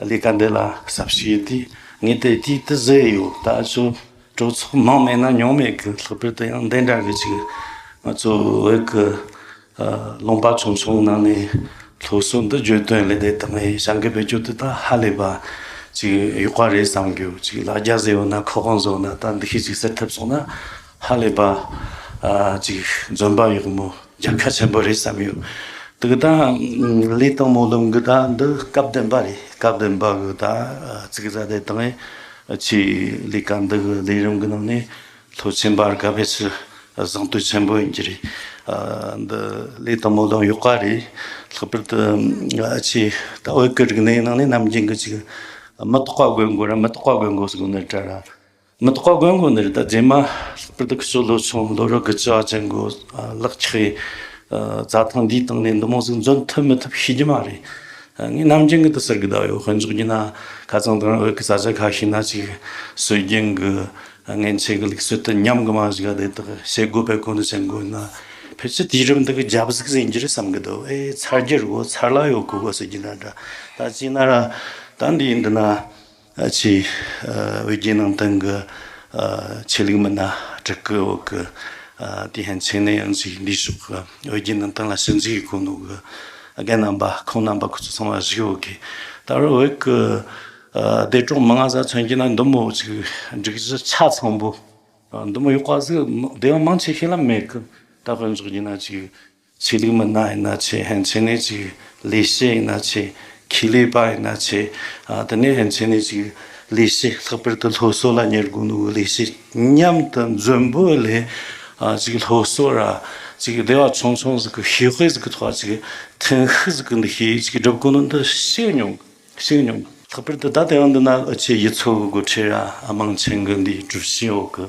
ལས་ཀ་འདི་ལ་ཟབ་བྱེད་དེ་ངས་དེ་དུས་དུ་བཟོས་ཡོད་ད་ཅོ་གྲོས་ཚོགས་ནང་མེད་ན་མྱོང་མེད་གི་ལྷག་པར་དུ་ཡང་འདི་འདྲ་གི་ཅིག་ང་ཚོ་བོད་གི་རླུང་པ་ཆུང་ཆུང་ནང་ནས་ལྷུག་གསུང་དུ་བརྗོད་དོན་ལས་འདི་དང་ངས་བྱ་འགུལ་བེད་སྤྱོད་དུ་ད་ཧ་ལས་པ་ཅིག་ཡོད་པ་རེད་བསམ་གྱི་ཡོད་ཅིག་ལ་རྒྱ་བཟེ་ཡོད་ན་ཁ་དབང་བཟོ་ན་ད་འདི་ཤེས་ཅིག་ཟེར་ཐུབ་སོང་ན། ཧ་ལས་པ། ཅིག་འཛོམས་པ་ཡག་མོ་རྒྱལ་ཁ་ཆེན་པོ་རེད་བསམ་ཡོད། དུག་ད་ལས་དང་མོ་ལུང་གི་ད་འདི་སྐབས་བདེན་པ་རེད་སྐབས་བདེན་པ་གི་ད་ཚིག་རྩ་དེ་དང་ཡིན་ཆེས་ལས་ཀ་འདི་གི་ལས་རིམ་གི་ནང་ནས་ལྷོད་ཆེན་པར་དགའ་བའི་ཕྱིར་བཟང་བསྟོད་ཆེན་པོ་ཡིན་གྱི་རེད། འདི་ལས་དང་མོ་ལུང་ཡོད་ཀ་རེད་ལྷག་པར་དུ་ཆེས་ད་འོས་ཀི་རིག་གནས་ནང་ནས་རྣམ་རྒྱལ་གི་ཅིག་མི་རྟོག་པ་དགོས་མགོ་ར་མི་རྟོག་པ་དགོས་མགོ་སོགས་ནས་བྲ་ར། མི་ཐོག་དགོན་གོང་ནས་རི་དྭགས་རྗེས་མ་སྤུ་དག་གསོ་ལོ་ཆུང་ལོ་རུ་དགུ་བཅུ་བ་ཅན་གོ་ལག་ཆགས་ཡས་རྩྭ་ཐང་འདིའི་སྟེང་ནས་འདུ་མོ་ཟིག་འཛོན་ཐུབ་མི་ཐུབ་ཤེས་རྒྱུ་མ་རེད། ངས་ནམ་རྒྱུན་གི་དུ་ཟེར་གི་ད་ཡོད་དཔོན་ཚོགས་ཀྱི་ན་ཁ་ཚང་དང་འོད་ཀི་རྩྭ་ཆ་ཁ་ཤས་ན་ཅིག་གསོད་རྒྱུ་འགུ་ངན་ཆེ་གི་ལིག་གསོད་དུ་ཉམས་གི་མ་བཞི་ག་དེ་དག་བྱེད་དགོས་པའི་གོ་ནི་བྱེད་དགོས་ན་ཕལ་ཆེར་དུས་རིམ་དག་གི་རྒྱབ་གཟིགས་ཟིན་རྒྱུ་རེད་བསམ་གི་འདུག་ཨེ་ཚར་རྒྱུ་རུ་ཚར་ལ་ཡོད་གི་གོ་ཟེར་རྒྱུ་འདྲ་འདྲ་ད་ཅིག་ན་ར་ད་འདི་ཡིན་འདི་ན། ཆེས་དབུས་རྒྱལ་ནང་བསྟན་གྱི་ཆོས་ལུགས་མི་སྣ་དྲུག་གི་འོག་གི་དེ་ཧན་ཆིང་ནེ་ཡོན་ཙིའི་འདུས་ཤོག་གི་དབུས་རྒྱལ་ནང་བསྟན་ལ་ཞིབ་འཇུག་གི་ཁུངས་ལུང་གི་རྒན་རྣམ་པ་ཁོང་རྣམ་པ་ཁོ་ཚོ་ཚང་མ་གཞིས་ཀའི་འོག་གི་ད་རུང་འོད་ཀྱི་བདེ་གྲོང་མི་ང་གཟའ་ཚོན་གྱི་ནང་འདུ་མོ་ཅིག་སྒྲིག་གཞི་ཆ་ཚང་པོ་འདུ་མོ་ཡོད་པ་ཟིག་སྡེ་བ་མང་ཆེ་ཤོས་ལ་མེད་གི་ད་དཔོན་ཚོགས་ཀྱི་ནང་ཅིག་ཆོས་ལུགས་མི་སྣ་ཡིན་ན་ཆོས་ཧན་ཆོས་ནས་ཅིག་ལས་བྱེད་ཡིན་ན་ཆོས་ཁེ་ལས་པ་ཡིན་ན་ཆོས་དེ་ནས་ཧན་ཆོས་ནས་ཅིག་ལས་བྱེད་ལྷག་པར་དུ་སློབ་གསོ་ལ་ཉེར་དགོངས་ནོར་བུ་ལས་བྱེད་མཉམ་དུ་མཛོད་འབོད་ལས་ཅིག་སློབ་གསོ་ར་ཅིག་སྡེ་བ་ཆུང་ཆུང་ཟིག་གི་ཤེས་དཔལ་ཟིག་གི་ཐོག་ཅིག་ཐེངས་ཤིག་ཟིག་གི་འདི་ཤེས་ཡིན་ཅིག་སྒྲུབ་དགོས་ནོར་འདི་ཤེས་མྱོང་ཤེས་མྱོང། ལྷག་པར་དུ་ད་ལྟའི་འདི་ན་ཨུ་ཆེ་ཡི་ཚོགས་དགོས་ཁྲེལ་ར་མང་ཆེན་གི་འདིའི་གྲུབ་ཆའི་འོག་གི།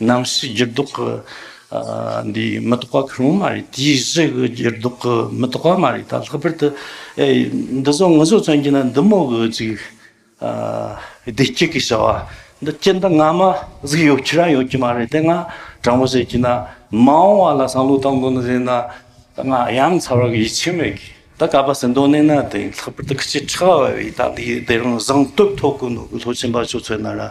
ནམ་ཞིག་འགྱུར་ལྡོག་གི་འདི་མི་རྟོགས་པ་ཁུར་འོང་མ་རེད་དེའི་གཞི་གི་འགྱུར་ལྡོག་གི་མི་རྟོགས་པ་མ་རེད་ད་ལྷག་པར་དུ་འདི་བཟོ་ངུ་བཟོ་བརྩོན་གྱིན་འདི་མོ་གི་ཅིག་བདེ་སྐྱིད་ཀྱི་བྱ་བ་འདི་སྐྱིད་འདི་ང་མ་གཟིགས་ཡོད་ཁྱེད་རང་ཡོད་ཀྱི་མ་རེད་དེ་ང་དྲང་པོ་བཤད་ཀྱིན་ན་མ་འོང་བ་ལ་བསམ་བློ་གཏང་དགོས་ན་བཟེད་ན་ང་ཡང་ཚ་བར་ཡིད་ཆེས་མེད་གི་ད་ག་པ་ཟིན་དོན་གནས་ན་དེ་ལྷག་པར་དུ་ཁྱི་ཁྲག་བ་བའི་ད་འདི་དེ་རང་བཟང་སྟོབས་ཐོག་གི་ནོར་བུ་ལྷོ་ཆེན་པ་ཆུ་ཚོད་ན་ར་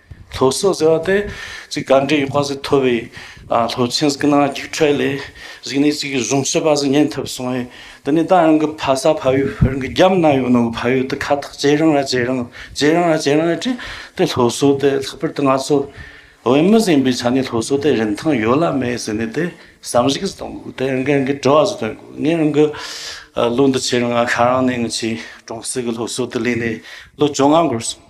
ལྷོ་སོག་ཟེར་བ་དེ་གཅིག་ག་འདྲའི་ཡོད་པ་ཟིག་མཐོ་བའི་ལྷོ་ཆེན་ཟིག་གི་ནང་རྒྱུགས་འཕྲད་ལས་གཞིགས་ནས་གཅིག་གཞུང་ཞུས་པ་ཟིག་ཉན་ཐུབ་སོང་བས་འདི་ནས་ད་ཡང་གི་ཕ་ས་ཕ་ཡུལ་བོད་གི་རྒྱབ་ན་ཡོད་ནོ་གི་ཕ་ཡུལ་དུ་ཁ་ཐག་ཇེ་རིང་ལ་ཇེ་རིང་ཇེ་རིང་ལ་ཇེ་རིང་ལ་བྲིས་ཏེ་ལྷོ་སོག་དེ་ལྷག་པར་དུ་ང་ཚོ་བོད་མི་ཟིག་ཡིན་པའི་ཆ་ནས་ལྷོ་སོག་དེ་རིན་ཐང་ཡོད་ལ་མེད་ཟེར་ནས་དེ་བསམ་གཞིགས་ཟིག་གཏོང་དགོས་དེ་ཡང་གི་ཡང་གི་དྲི་བ་ཟིག་བཏོན་དགོས་ངས་ཡང་གི་ལོ་འདི་ཕྱི་རང་ང་ཤ་རང་ནས་ངི་ཆེས་གྲོང་གསེབ་ཀི་ལྷོ་སོག་དུ་གླས་ནས་ལོ་བཅོ་ལྔ་འགོར་སོང།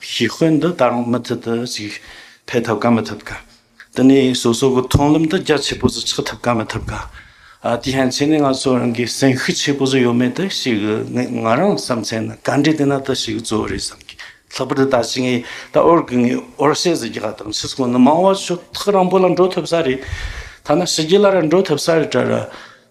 ཞི་ཁོལ་འདི་དང་མུ་མཐུད་དུ་ཞིག་འཕེལ་ཐུབ་ག་མི་ཐུབ་ག། དེ་ནས་སོ་སོ་གི་མཐོང་ལམ་དུ་རྒྱ་ཆེ་པོ་ཟིག་ཆགས་ཐུབ་ག་མི་ཐུབ་ག། དེ་ཡན་ཆད་ནས་ང་ཚོ་རང་གི་སེམས་ཤུགས་ཆེ་པོ་ཟིག་ཡོད་མེད་དུ་ཞིག་ང་རང་བསམ་ཚེ་ན་ག་འདྲའི་དེ་ན་དུ་ཞིག་གཙོ་བོ་རེད་བསམ་གི། ལྷག་པར་དུ་ད་ཕྱིན་ངས་ད་ཨོར་གི་ངས་ཨོར་བཤད་ཟིག་གི་ག་དང་ཕྱིས་སུ་ཁོང་ནི་མང་བ་ཆོག་ཐག་རང་པོ་ལ་འགྲོ་ཐུབ་ས་རེད། ཐ་ན་ཕྱི་རྒྱལ་ལ་ར་འགྲོ་ཐུབ་ས་རེད་གྲ་ར།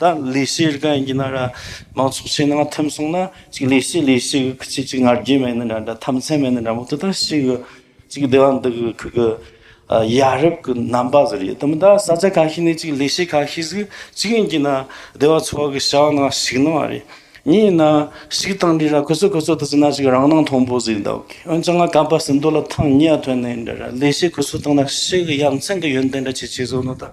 ད་ལས་སའི་རིགས་ཡིན་ན་ར། མང་ཚོགས་ཕྱི་ནང་ཐིམ་སོང་ན། ཅིག་ལས་སའི་ལས་སའི་གི་ཁྱི་ཅིག་ང་རྒྱལ་མེད་ན་འདྲ་འདྲ་ཐམས་ཚད་མེད་ན་འདྲ་མོ་དེ་ལྟར་ཤི་གི། ཅིག་སྡེ་བ་འདི་གི་ཁུལ་གི། ཡ་རབས་ཀྱི་རྣམ་པ་ཟེར་ཡོད་དམ་མདའ་ས་ཆ་ག་ཤེད་ནས་ཅིག་ལས་སའི་ག་ཤེད་ཟིག་ཅིག་ཡིན་གྱི་ན། སྡེ་བ་ཚོ་གི་བྱ་བ་ནང་ཞིག་ནང་བ་རེད། ཉིན་ཡིན་ན། ཞིག་བཏང་འདྲི་ར་ཁོ་ཚོ་ཁོ་ཚོ་དེ་ཟིན་ན་ཅིག་རང་སྣང་མཐོང་པོ་ཟིག་འདའ་གི་འོན་ཀྱང་ང་གམ་པ་ཟིན་འདོད་ལ་ཐང་ཉེ་ཡ་ཐོན་ནས་འདྲ་ར་ལས་སའི་ཁུ་ཚུར་བཏང་ན་ཤི་གི་ཡ་མཚན་གི་ཡོན་ཏན་འདྲ་ཆེ་ཆེ་བཟོ་ནོ་ད།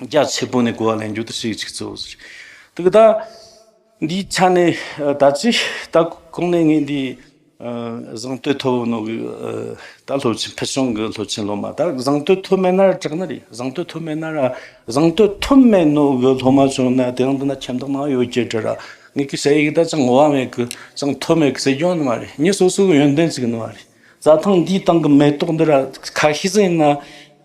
རྒྱ་ཆེ་པོ་ནས་གོ་བ་ལེན་རྒྱུ་དེ་ཤིག་ཅིག་གཙོ་བོ་ཟེར། དེ་གདའ། འདིའི་ཆ་ནས་ད་ཅི་ད་གོང་ནས་ངས་འདིའི་བཟང་བསྟོད་ཐོབ་བོ་ནོ་གིས་ད་ལྷོ་ཕུལ་བྱུང་གི་ལྷོ་ཆེན་ལྷོ་མ་ད་བཟང་བསྟོད་ཐོབ་མེད་ན་ར་དྲག་ན་རེད་བཟང་བསྟོད་ཐོབ་མེད་ན་ར་བཟང་བསྟོད་ཐོབ་མེད་ནོ་གི་ལྷོ་མ་བྱུང་ན་དེ་རང་འདི་ན་ཁྱིམ་བདག་མང་ཡོད་ཀྱི་དྲི་ར་ངས་ཀྱི་ཟེར་ཡིག་ད་ཅང་ངོ་བ་མེད་གི་ཅང་ཐོབ་མེད་གི་ཟེར་རྒྱུ་ཡང་ནི་མ་རེད་ངས་སོ་སོ་གི་ཡོན་ཏན་ཅིག་ནི་མ་རེད་རྩྭ་ཐང་འདིའི་སྟེང་གི་མེ་ཏོག་འདི་ར་ཁ་ཤས་ཟིན་ན།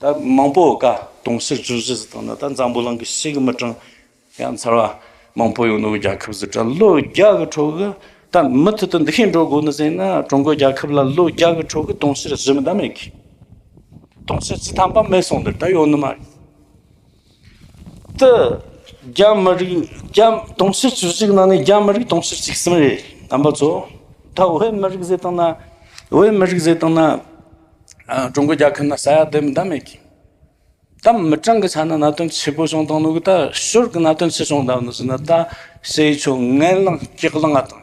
ད་མང་པོ་བཀའ་གདུང་ཤིག་བྱུང་ཞེས་དང་ད་འཛམ་བུ་གླིང་གི་ཤིག་དམིགས་དྲང་ཡང་ཚར་བ་མང་པོ་ཡོང་འདུག་རྒྱལ་ཁབ་སུ་དྲ་ལོ་རྒྱ་གི་ཁྲོད་གི་ད་མུ་མཐུད་དུ་འདི་ཤེས་འགྲོ་དགོས་ནི་ཟེར་ན་ཀྲུང་གོའི་རྒྱལ་ཁབ་ལ་ལོ་རྒྱ་གི་ཁྲོད་གི་དུང་ཕྱུར་བཞི་མི་དམ་མེད་གི་དུང་ཕྱུར་བཅུ་ཐམ་པ་མེད་སོང་འདིར་ད་ཡོང་ནི་མ་རེད་ཏི། རྒྱ་མི་རིགས་དུང་ཕྱུར་བཅུ་གཅིག་ནང་ནས་རྒྱ་མི་རིགས་དུང་ཕྱུར་གཅིག་གསུམ་རེད་དམ་པ་ཚོ། ད་བོད་མི་རིགས་ཟེར་སྟངས་ན་བོད་མི་རིགས་ཟེར་སྟངས་ན། ཀྲུང་གོ་རྒྱལ་ཁབ་ན་ས་ཡ་བདུན་མི་འདང་མེད་ཀི། ད་མི་གྲངས་ཀྱི་ཆ་ན་གནའ་དོན་ཆེ་པོ་བྱུང་སྟངས་ནོར་གི་ད་ཤོར་གི་གནའ་དོན་ཆེ་བྱུང་སྟངས་ནོར་ཟེར་ན་ད་བྱེས་ཆོས་ངན་ལངས་སྐྱག་ལངས་ང་དང།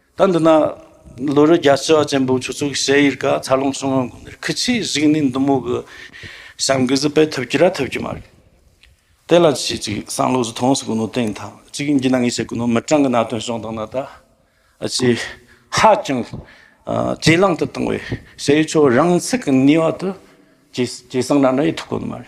ད་འདི་ན་ལོ་རེ་རྒྱ་སྤྱི་བ་ཅན་པོ་ཆུ་ཚོད་ཞེ་ཡིར་ཀ་ཚ་ལུང་སུང་ངོན་དགོན་དེར་ཁི་ཆིས་གཟིགས་ནས་འདི་མོ་གི་བྱམས་གི་གཟི་པད་ཐུབ་ཀྱི་ར་ཐུབ་ཀྱི་མ་རེད། དེ་ལ་ཆིས་ཅིག་སང་ལོ་ཟི་ཐོང་སུ་གུ་ནོ་ཏེང་ཐང་ཅིག་འགྱིས་ན་ངས་བྱེད་གི་ནོ་མི་གྲངས་གི་ན་དོན་བྱུང་དང་ན་ད་ཅི་ཧ་ཅང་ཇེ་ལང་དུ་བཏང་བས་ཞེ་ཡི་ཆོ་རང་ཚིག་གི་ནུས་བ་དུ་ཇེ་སང་ར་འདྲ་ཡི་ཐུག་གོ་ནི་མ་རེད།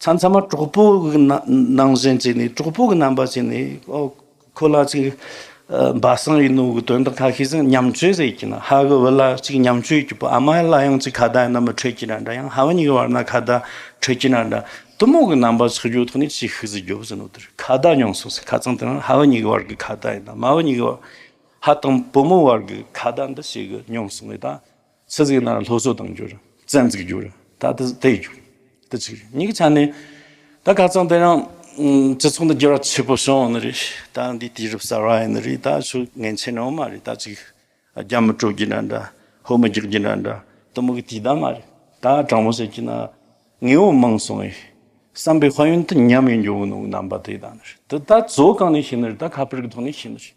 ཚང་ཚང་མ་གྲོགས་པོ་གི་ནང་བཞིན་བྱས་ནས་གྲོགས་པོ་གི་རྣམ་པ་བྱས་ནས་ཁོ་ལ་ཅིག་སྦ་གསང་ཡིན་ནོ་གི་དོན་དག་ཁ་ཤས་ཟིན་ཉམས་ཆོས་རེད་ཀྱི་ན་ཧ་གི་བུ་ལ་ཅིག་ཉམས་ཆོས་ཀྱི་བུ་ཨ་མ་ལ་ཡང་ཅིག་ཁ་བརྡ་ཡིན་ན་མི་འཕྲོད་ཀྱི་ན་འདྲ་ཡང་ཧ་བ་གཉིས་ཀྱི་བར་ན་ཁ་བརྡ་འཕྲོད་ཀྱི་ན་འདྲ་གཏི་མུག་གི་རྣམ་པ་ཆགས་རྒྱུ་ཐོག་ནས་ཅིག་ཤིག་ཟིག་རྒྱོ་བཞིན་ནོ་དེར་ཁ་བརྡ་མྱོང་སོང་ཟིག་ཁ་ཚང་དེ་རང་ཧ་བ་གཉིས་ཀྱི་བར་གྱི་ཁ་བརྡ་ཡིན་ན་མ་བ་གཉིས་ཀྱི་བར་ཧ་དང་བུ་མོ་བར་གྱི་ཁ་བརྡ་འདི་བྱེད་གི་མྱོང་སོང་ངེས་ད། ཚེ་གཟིགས་ན་ལྷོ་སོ་དང་འགྱུར། བཙན་གཟིགས་འགྱུར། ད་དེ་དེ་ཡི་འགྱུར། དེ་ཚིག་རེད། གཉིས་ཀྱི་ཆ་ནས། ད་ག་ཙང་དེ་རང། སྤྱི་ཚོགས་འདི་འགྱུར་བ་ཆེ་པོ་བྱུང་ནི་རེད། ད་འདི་དུས་རབས་གསར་བ་ཡིན་ནི་རེད། ད་ཆོས་ངན་ཆེ་ནའང་མ་རེད། ད་ཅིག། རྒྱ་མི་དཀྲོག་རྒྱུ་འདྲ་འདྲ། ཧོར་མི་རྒྱག་རྒྱུ་འདྲ་འདྲ། དུ་མུག་གི་དུས་ད་མ་རེད། ད་དྲང་མོ་བཤད་རྒྱུ་ན། ངེས་བོ་མང་སོང་ཡི། བསམ་པའི་དཔལ་ཡོན་དུ་ཉམས་ཡི་འགྱུར་བོ་ནོངས་རྣམ་པ་དེ་ད་ནི་རེད། དུ་ད་བཙོ་གང་ནས་ཤེས་ནི་རེད། ད་ཁ་པར་གི་ཐོག་ནས་ཤེས་ནི་རེད།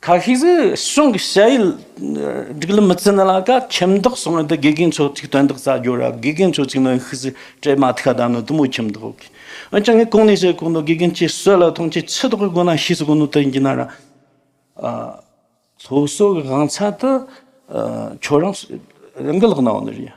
ཁ་ཤས་ཀྱིས་གཞུང་གི་བཤད་ཡུལ་སྒྲིག་ལམ་མི་བརྩི་ན་ལ་ཀ་ཁྱིམ་བདག་སོང་ཡོད་དུ་དགེ་རྒན་ཆོས་གཅིག་དོན་དག་རྩ་རྒྱུ་ར་དགེ་རྒན་ཆོས་གཅིག་ནི་ཡིན་ཤི་ཟེར་སྤྲེལ་མ་ཐིག་ལྟ་ནི་དུ་མོ་ཁྱིམ་བདག་འོ་ཁི་འོན་ཀྱང་ངས་གང་ནས་བཤད་གང་དུ་དགེ་རྒན་གྱིས་སྲོད་ལ་ཐོངས་ཀྱི་ཆུ་དོག་གི་སྒོ་ན་ཤི་ཟིག་གང་དུ་དེ་འགྱིན་ན་ར་ཨ། སློབ་གསོ་གི་དབང་ཚད་དུ་ཁྱོད་རང་རང་གི་ལག་ན་འོ་ན་རེད།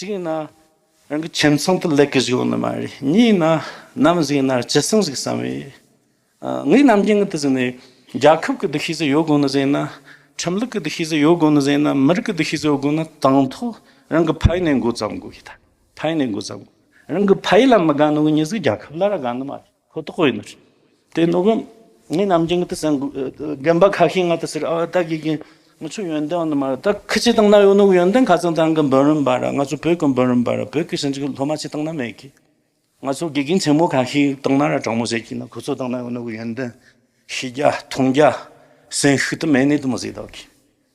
གཅིག་ན་རང་གི་ཁྱིམ་ཚང་དུ་ལེགས་སྐྱེས་ཡོང་ནི་མ་རེད་གཉིས་ན་ནམ་གཟིགས་ན་སྤྱི་སེམས་ཟིག་བསམ་ཡོད་ངས་ནམ་རྒྱུན་ངང་དུ་གཟིགས་ནས་རྒྱལ་ཁབ་ཀྱི་འདུ་ཤེས་ཟིག་ཡོད་དགོས་ནི་གཟིགས་ན་ཁྲིམས་ལུགས་ཀྱི་འདུ་ཤེས་ཟིག་ཡོད་དགོས་ནི་གཟིགས་ན་མི་རིགས་ཀྱི་འདུ་ཤེས་ཟིག་ཡོད་དགོས་ནི་དང་ཐོག་རང་གི་ཕ་ཡུལ་ནས་འགོ་བརྩམ་དགོས་ཀྱི་ད་ཕ་ཡུལ་ནས་འགོ་བརྩམ་དགོས་རང་གི་ཕ་ཡུལ་ལ་མི་དགའ་ནི་གཉིས་ཟིག་རྒྱལ་ཁབ་ལ་ར་དགའ་ནི་མ་རེད། ཁོ་ཐོག་ཡིན། དེ་ནོ་གི་ངའི་རྣམ་འགྱིང་དེ་སང་རྒན་པ་ཁ་ཤས་ང་དེ་སེར་ཨ་ད་གི་གི་ང་ཆུ་ཡོན་ཏན་ནི་མ་རེད་ད་ཁི་ཆི་དང་ན་ཡོ་ནུག་ཡོན་ཏན་ཁ་ཚང་ཚང་གི་འབུན་རིན་པ་ར་ང་ཚོ་བོད་གི་འབུན་རིན་པ་ར་བོད་གི་ཞིང་ཆེན་ལྷོ་མ་ཆི་དང་ན་མེད་གི་ང་ཚོ་དགེ་རྒན་ཆེན་མོ་ཁ་ཤས་དང་ན་ར་དྲང་མོ་བྱེད་གི་ན་ཁོ་ཚོ་དང་ན་ཡོ་ནུག་ཡོན་ཏན་ཤི་རྒྱ་ཐུང་རྒྱ་སེན་ཤུ་དུ་མེ་ནི་དུ་མ་བཟི་ད་གི།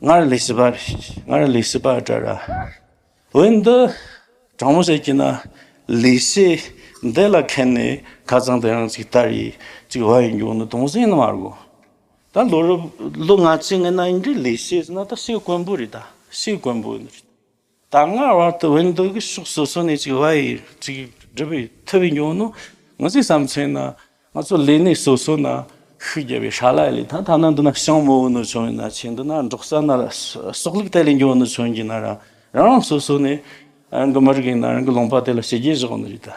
སྔར་ལས་སྲིད་པ་སྔར་ལས་སྲིད་པ་བཀྲ་ར། འོན་ཏེ་གྲང་མོ་ཟས་ཀྱིས་ན་ལས་སྲིད་འདི་ལ་ཁེན་ནས་ཁ་ཚང་དེ་རང་ཚིག་ལྟར་ཡིག་ཅིག་བ་ཡི་མགྱོགས་ནི་དུང་ཟིང་ནི་མ་རྒོ། ད་ལོ་རབས་ལོ་ང་ཚིག་ངན་ན་ཡིན་དྲི་ལས་སྲིད་ཟིན་ན་ད་སྲིད་དཀོན་པོ་རེད་ད་སྲིད་དཀོན་པོ། ད་སྔ་བར་དུ་བོད་མདོ་དགུའི་ཕྱོགས་སོ་སོ་ནས་ཅིག་བྷ་ཡི་ཅིག་སྒྲུབ་པའི་ཐུ་བའི་ཉོན་མོངས་ང་ཚོའི་བསམ་ཚུལ་ན་ང་ཚོ་ལས་གནས་སོ་སོ་ན་ཤུགས་རྒྱབ་པའི་ཧྲ་ལ་ལས་ཐ་ཐ་ན་འདི་ན་ཤང་མོ་བོ་ནོར་བྱུང་ཡིན་ན་ཆེ་འདི་ན་འབྲོག་ས་ན་སོག་ལུག་དེ་ལས་འབྱུང་བ་ནོར་བྱུང་གིན་ན་རང་རང་སོ་སོ་ནས་རང་གི་མི་རིགས་ཡིན་ན་རང་གི་ལུང་པ་དེ་ལ་ཞི་རྒྱས་བཞག་ནི་རེད་ད།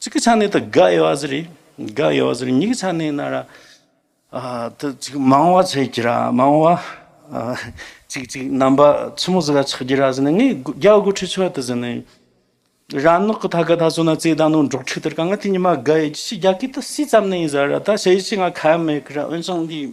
གཅིག་གི་ཆ་ནས་དང་དགའ་ཡོད་ཟེར་རེད་དགའ་ཡོད་ཟེར་གཉིས་ཀྱི་ཆ་ནས་ན་ར་དེ་གཅིག་མང་བ་ཆགས་ཀྱི་ར་མང་བ་གཅིག་གཅིག་རྣམ་པ་ཆུ་མོ་ཟེར་བ་ཆགས་ཀྱི་ར་ཟེར་ནས་ངས་རྒྱ་དགུ་ཁྲི་ཆོད་དེ་ཟེར་ནས་ར་ནག་གི་ཐ་ག་ད་སོ་ན་རྩེ་དང་ནང་འབྲོག་ཁྲི་དེར་གང་ག་དེ་ཉི་མ་དགའ་ཡོད་ཀྱི་ཆེ་རྒྱ་གིས་ད་སྲིད་ཙམ་ནས་ཡིན་ཟེར་ར་ད་བྱས་ཡིན་ཆེ་ང་ཁ་མེད་ཀི་ར་འོན་ཀྱང་དེ།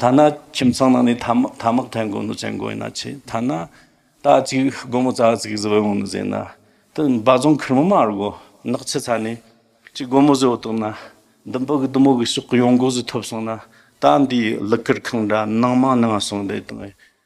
ཐ་ན་ཁྱིམ་ཚང་ནང་ནས་ཐ་མག་འཐེན་དགོས་ནུ་བཙན་དགོས་ཡིན་ན་ཆེ་ཐ་ན་རྟ་གཅིག་སྒོར་མོ་རྩ་གཅིག་བཟོ་ཡོང་ནུ་ཟེར་ན་དེ་འབའ་རྫོང་ཁུལ་མི་མང་རྒོ་ནག་ཆུ་ཚ་ནས་གཅིག་སྒོར་མོ་བཟོ་བཏོན་ན་འདི་འབུ་གི་བདུད་མོ་གི་ཕྱོགས་གི་ཡོང་སྒོ་ཟོས་ཐུབ་སོང་ན་ད་འདིའི་གླུ་གར་ཁང་འདྲ་ནང་མང་ནང་སོང་འདེ་དང་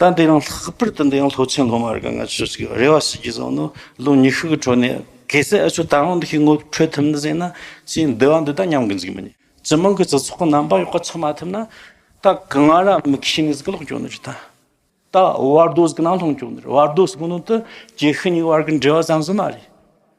ད་འདི་ཡང་ལྷག་པར་དུ་འདི་ཡང་ལྷོ་ཆེན་སློབ་མ་རེ་འགའ་ང་ཚོས་ཚིག་རེ་བ་ཞིག་གིས་བཟང་ནོ་ལོ་ཉི་ཤུ་གི་འཕྲོ་ནས་གེ་སེ་ཨ་ཆོས་ད་རང་འདི་ཤི་ངོ་འཕྲོད་ཐུབ་ན་ཟེར་ན་ཅི་འདི་བ་འདི་ད་ཉམས་གི་འཛིག་མི་ཉན་སྤྱི་མང་གི་སྤྱི་ཚོགས་ཀྱི་རྣམ་པ་ཡོག་ག་ཆགས་མ་ཐུབ་ན་ད་གི་ང་ར་མི་གི་ཤི་ནས་ཟིག་གི་ལོག་གྱོ་ནི་རི་ད་ད་བར་དོ་ཟིག་གི་ནང་ལྷུང་གྱོ་ནི་རི་བར་དོ་ཟིག་གི་ནང་དུ་གྱེས་ཤི་ཉིག་བར་གི་འབྲེལ་བ་ཙམ་ཟིག་མ་རེད།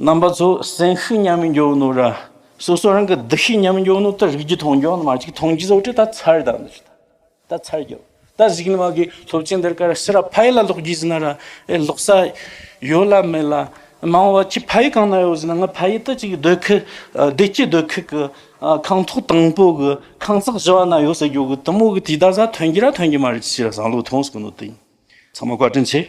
རྣམ་པ་ཚོ་སེམས་ཤུགས་ཉམས་མི་འགྱོགས་ནོ་ར། སོ་སོ་རང་གི་སྡུག་ཤུགས་ཉམས་མི་འགྱོགས་ནོ་ད་རིགས་རྒྱུ་མཐོང་འགྱོགས་ནོ་མ་གཅིག་མཐོང་རྒྱུ་ཚོ་ཁྲི་ད་ཚར་དང་ནི་ད་ཚར་འགྱོགས་ད་གཟིགས་ནི་མ་གི་སློབ་ཆེན་འདིར་ཀར་སི་ར་ཕ་ཡི་ལ་ལོག་རྒྱུ་ཟིན་ན་ར་ཨེ་ལོག་ས་ཡོད་ལ་མེད་ལ་མང་བ་ཁྱི་ཕ་ཡི་གང་ན་ཡོད་ཟིན་ན་ང་ཕ་ཡི་ད་ཅིག་སྡོད་ཁུལ་བདེ་སྐྱིད་སྡོད་ཁུལ་གི་ཁང་ཐོག་དང་པོ་གི་ཁང་བརྩེགས་བཞི་བ་ན་ཡོད་ས་འགྱོགས་གི་དུ་མོ་གི་དུས་ད་ཟ་ཐོན་གྱི་ར་ཐོན་གྱི་མ་རེད་ཅི་བྱས་ར་བཟང་ལུགས་མཐོང་སྲིད་གི་ནོ་དེ་ཡིན་ཚང་མ་བཀའ་དྲིན་ཆེ།